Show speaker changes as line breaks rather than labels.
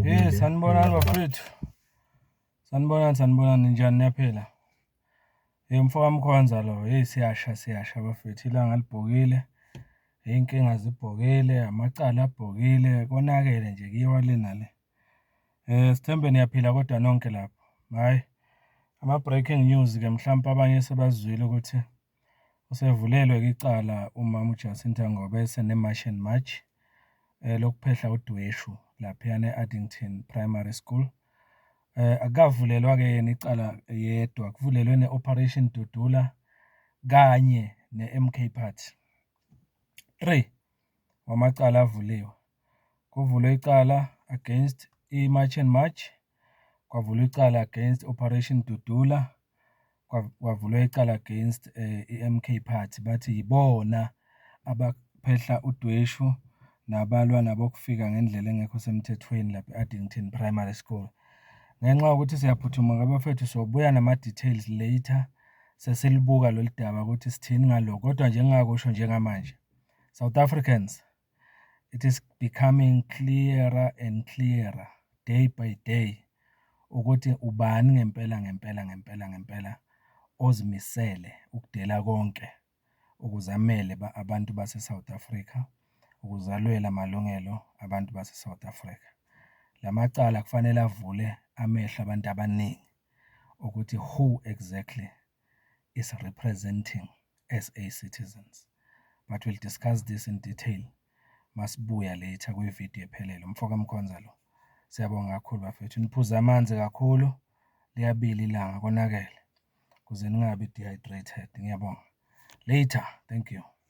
Hey, sanibonani bafethu. Sanibonani sanibonani njani niyaphila? Hey mfoka Mkhonza lo, hey siyasha siyasha bafethu ilanga libhokile. Hey inkinga zibhokile, amacala abhokile, konakele nje kiwa lena le. Eh sithembe niyaphila kodwa nonke lapho. Hayi. Ama breaking news ke mhlawumbe abanye sebazwile ukuthi Usevulelwe-ke icala umama uJacinta ngoba eseneMarch and March lokuphehla udweshu laphayana e-Addington Primary School. Akukavulelwa-ke yena icala yedwa, kuvulelwe ne-Operation Dudula kanye ne-MK Party. Three. wamacala avuliwe. Kuvulwe icala against iMarch and March, kwavulwa icala against Operation Dudula, kwavulwa icala against i-MK Party. Bathi yibona abaphehla udweshu nabalwa nabokufika ngendlela engekho semthethweni lapha e-Addington Primary School. Ngenxa yokuthi siyaphuthuma ngabafethu sobuya nama-details later sesilibuka lolu daba ukuthi sithini ngalokho kodwa nje engingakusho njengamanje. South Africans, it is becoming clearer and clearer day by day ukuthi ubani ngempela ngempela ngempela ngempela ozimisele ukudela konke ukuzamele abantu base-South Africa, ukuzalwela amalungelo abantu base-South Africa. La macala kufanele avule amehlo abantu abaningi ukuthi who exactly is representing SA citizens but will discuss this in detail masibuya later kwi video ephelele. Mfo ka Mkhonza lo. Siyabonga kakhulu bafethu. Niphuze amanzi kakhulu. Liyabili ilanga konakele. Kuze ningabi dehydrated. Ngiyabonga. Later. Thank you.